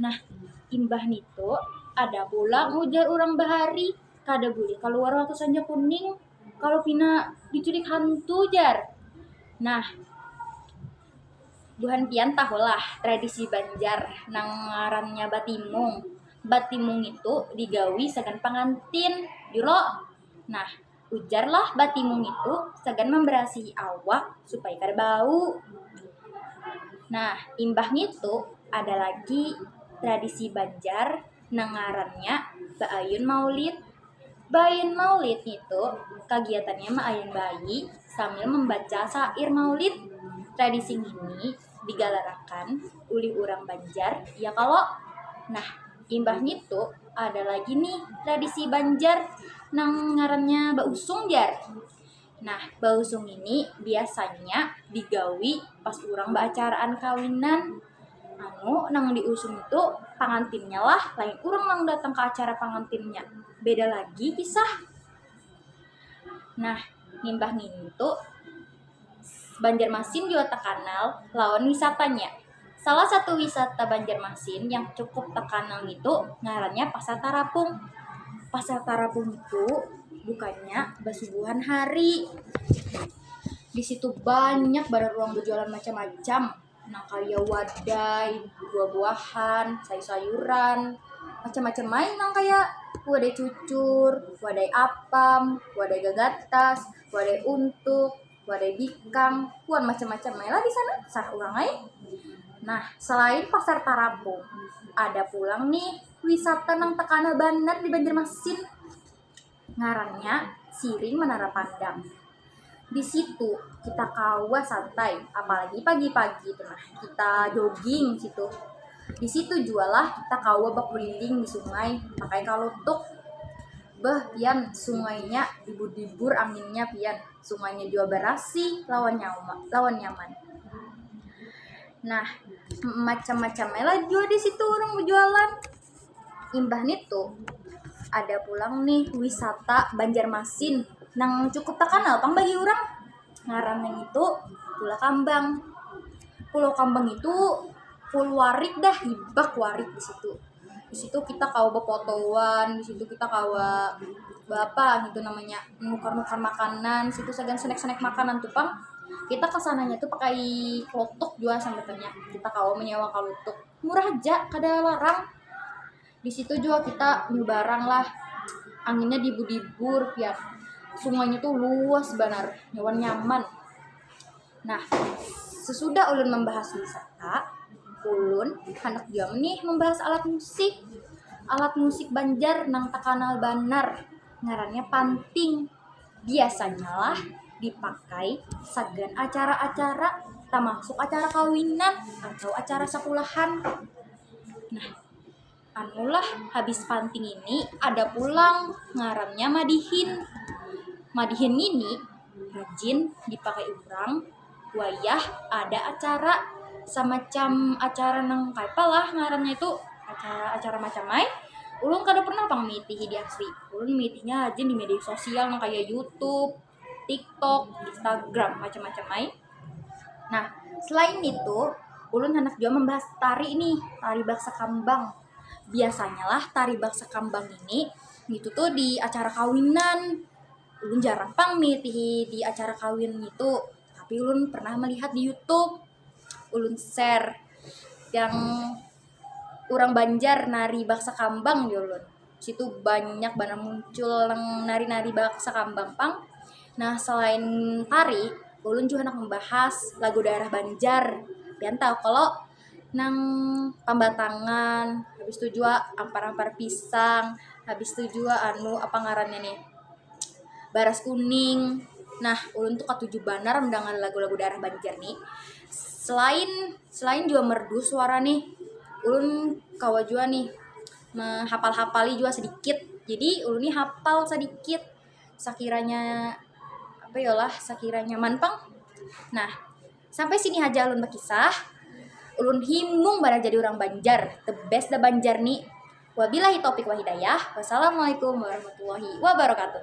Nah, imbah nitu ada pulang ujar urang bahari, kada bulih kaluar waktu sanja kuning kalau pina diculik hantu jar. Nah, buhan pian tahulah tradisi Banjar nang ngarannya batimung. Batimung itu digawi sagan pangantin jua. Nah. Ujarlah batimu ngitu sagan mambarasihi awak supaya kada bau. Nah, imbah ngitu ada lagi tradisi Banjar nang ngarannya Baayun Maulid. Baayun Maulid ngitu kagiatannya maayun bayi sambil mambaca sair Maulid. Tradisi ngini digalarakan ulih urang Banjar, ya kalo? Nah. Imbah ngitu ada lagi nih tradisi Banjar nang ngarannya bausung jar. Nah, bausung ini biasanya digawi pas urang baacaraan kawinan. Anu nang diusung itu pangantinnya lah, lain urang nang datang ke acara pangantinnya. Beda lagi kisah. Nah, nimbah ngintu Banjarmasin jua takanal lawan wisatanya. Salah satu wisata Banjarmasin yang cukup terkanal itu ngarannya Pasar Tarapung. Pasar Tarapung itu bukannya basubuhan hari. Di situ banyak banar ruang berjualan macam-macam. Nah, kaya wadai, buah-buahan, sayur-sayuran, macam-macam main nang kaya wadai cucur, wadai apam, wadai gagatas, wadai untuk. wadai bikang wan macam-macam ai lah di sana sanak urang ai nah selain pasar tarapung ada pulang nih wisata nang terkenal banar di banjarmasin ngarannya siring menara pandang di situ kita kawa santai apalagi pagi-pagi tu nah kita jogging di situ di situ jua lah kita kawa bakuliling di sungai pakai kalutuk beuh pian sungainya dibur-dibur anginnya pian. Sungainya jua barasih lawan lawan nyaman. Nah, macam-macam lah jua di situ orang berjualan. Imbah nitu ada pulang nih wisata Banjarmasin nang cukup terkenal pang bagi orang. Ngarannya itu Pulau Kambang. Pulau Kambang itu full warik dah, hibak warik di situ. di situ kita kawa bepotoan di situ kita kawa berapa gitu namanya nukar nukar makanan situ sagan snack snack makanan tuh pang kita kesananya tuh pakai klotok juga sambatnya kita kawa menyewa klotok murah aja kada larang di situ juga kita barang lah anginnya dibu dibu rupiah semuanya tuh luas banar nyaman. Nah, sesudah ulun membahas wisata, ulun handak jua nih membahas alat musik. Alat musik Banjar nang takanal banar ngarannya panting. Biasanya lah dipakai sagan acara-acara tamasuk acara kawinan atau acara sakulahan. Nah. Anulah habis panti ngini ada pulang ngarannya madihin. Madihin ngini rajin dipakai urang wayah ada acara samacam acara nang kayapa lah ngarannya itu acara-acara macam ai. Ulun kada pernah pang miitihi di asli. Ulun miitihinya rajin di media sosial nang kaya YouTube, TikTok, Instagram, macam-macam lain. Nah, selain itu, ulun hendak juga membahas tari ini, tari baksa kambang. Biasanya lah tari baksa kambang ini itu tuh di acara kawinan. Ulun jarang pang mengikuti di acara kawin itu, tapi ulun pernah melihat di YouTube. Ulun share yang urang banjar nari baksa kambang jar ulun situ banyak banar muncul nang nari nari baksa kambang pang nah selain tari ulun jua handak membahas lagu daerah banjar pian tahu kalo nang pambatangan habis tu jua ampar ampar pisang habis tu jua anu apa ngarannya nih baras kuning nah ulun tu katuju banar mendengar lagu lagu daerah banjar ni selain. Selain jua merdu suara nih, ulun kawa jua nih mehapal-hapali jua sedikit. Jadi ulun nih hapal sedikit sakiranya apa yo lah sakiranya nyaman pang. Nah, sampai sini haja ulun bekisah. Ulun himung banar jadi urang Banjar. The best dah Banjar ni. Wabilahi taupik wal hidayah. Wassalamualaikum warahmatullahi wabarakatuh.